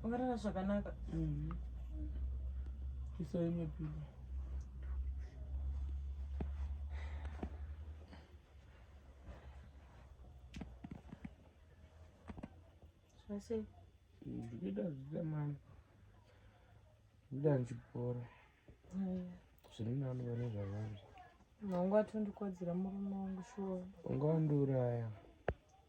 Ungarara zvakanaka. Mhm. Iso imwe pillow. Zvasei? Ndikuita zvita mani. Ndikuita ndichipora. Zviri nani vane zvavari. Mwangu atondikodzera murume wangu shuwa. Ungawandiuraya.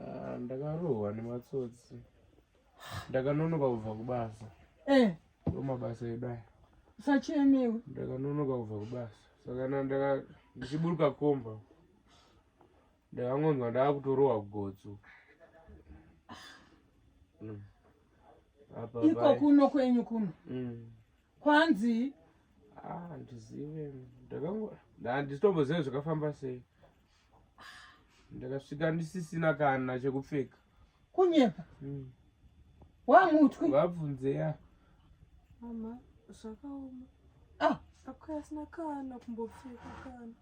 Ah, ndakarohwa nematsotsi ndakanonoka kubva kubasa eh. mabasa edu aya usachemewe ndakanonoka kubva kubasa saka ndaka ndichiburuka komba ndakangonzwa ndakutorohwa gotso mm. iko kuno kwenyu kuno mm. kwanzi ah, ndizive ndakango ndandisitombozive zvakafamba sei ndakasvika ndisisina kana chekupfeka kunyepa mm. wamutwi vabvunze ya mama zvakaoma ah. akuya asina kana kumbopfeka kana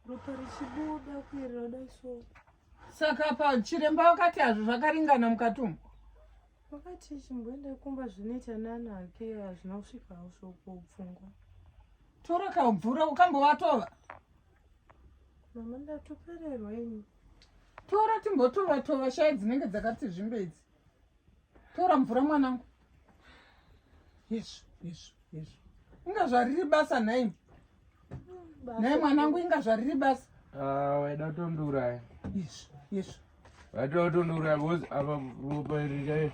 ropa richibuda kuerera dai so saka pa chiremba wakati hazvo zvakaringana mukati umu wakati chimboenda kumba zvinoita nana ake hazvina kusvika hausvoko pfungwa tora kamvura ukambovatova mama ndatopererwa ini tora timbotova tova shaya dzinenge dzakati zvimbe idzi tora mvura mwanangu hezvo hezvo hezvo inga zvariri basa nhaimi nhai mwanangu inga zvariri basa ah, waida kutondiuraya hezvo hezvo waida kutondiuraya bcause apa ropa iri chaio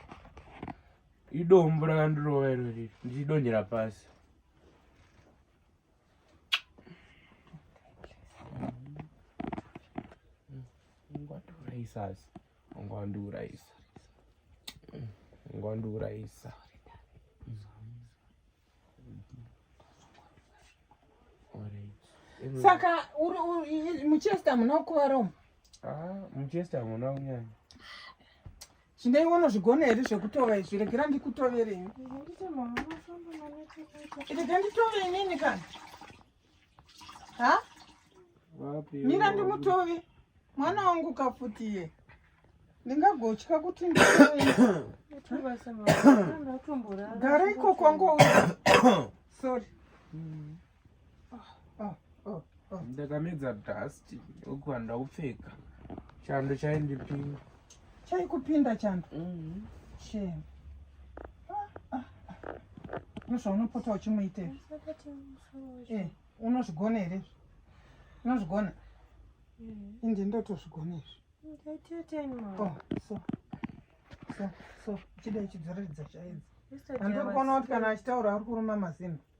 idombo rakandirova iro riri ndichidonhera pasi ungwandiurayisas ungwandiurayisa ungwandiurayisa saka muchester munokuvara umu ah, muchester hamuna kunyanya Chindei unozvigona here zvekutova izvi regera ndikutovere ini. Rega nditove inini kana. Ha? Mira ndimutove. Mwana wangu kafuti iye. Ndingagotya kuti nditove. Gara ikoko ngouya. Sorry. Mm. ndakamedza dust uku handida kupfeka chando chaindipinda chaikupinda chando mhm. shame ah, ah, ah. nozvaunopota uchimuita eh, unozvigona here unozvigona mhm. indi ndotozvigona izvi oh, so so so uchida ichidzoreredza chaidzi andiri kuona kuti kana achitaura ari kuruma mazimba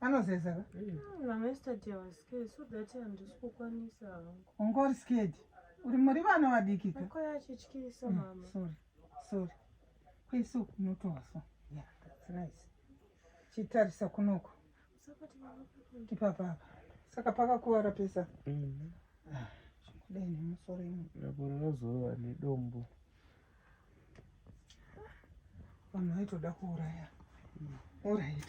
anozeza ka ungori skedi uri muri vana vadiki ka sorry kwese uku unotozwa yeah that's nice chitarisa kunoko ipapapa saka pakakuvara pesa mm-hmm. ah, zvekudai nemusoro ino raporora zorova nedombo vanhu vaitoda kuuraya orit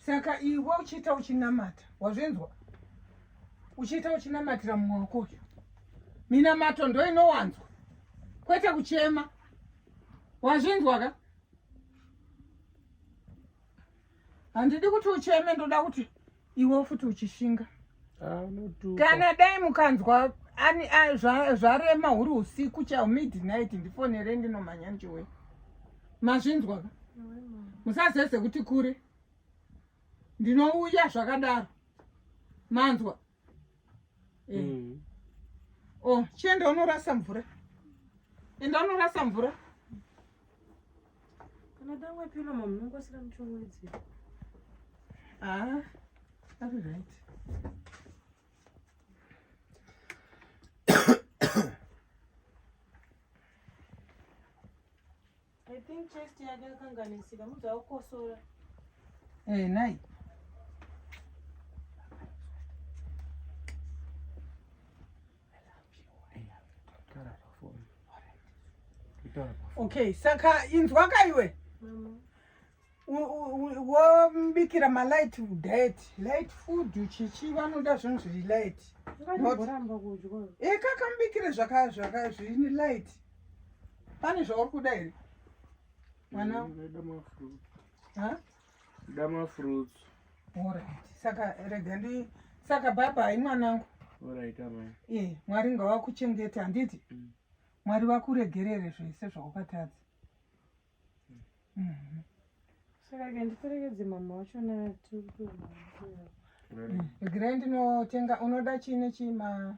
saka iwe uchiita uchinamata wazvinzwa uchiita uchinamatira mumwe wako uyu minamato ndo inowanzwa kwete kuchema wazvinzwa ka handidi kuti ucheme ndoda kuti iwe futi uchishinga ah, kana dai mukanzwa zvarema huri usiku chao midnight ndifonere ndinomhanya ndiwe mazvinzwa ka musazeze kuti kure ndinouya zvakadaro manzwa e. mm. o oh, chienda unorasa mvura enda unorasa mvura Unoda wapi mama munongosira muchongwedzi. Ah, ari right. I think chest yake yakanganisika mudza ukosora. Eh, nai. Okay, saka inzwa ka iwe wobikira malight diet light food chichi vanoda zvinhu zviri light ekaka mubikire zvakazvini light pane zvauri kuda here mwana Nda ma fruits. Alright. Saka rega ndi saka baba hai mwanangu. Alright amai. Eh, Mwari ngawakuchengeta handiti? Mm. Mwari vakuregerere zvese zvawakatadza. Mm. Mm. Saka ke ndiperekedze mama wacho na tiri kuenda. Regerai ndinotenga unoda chii nechii ma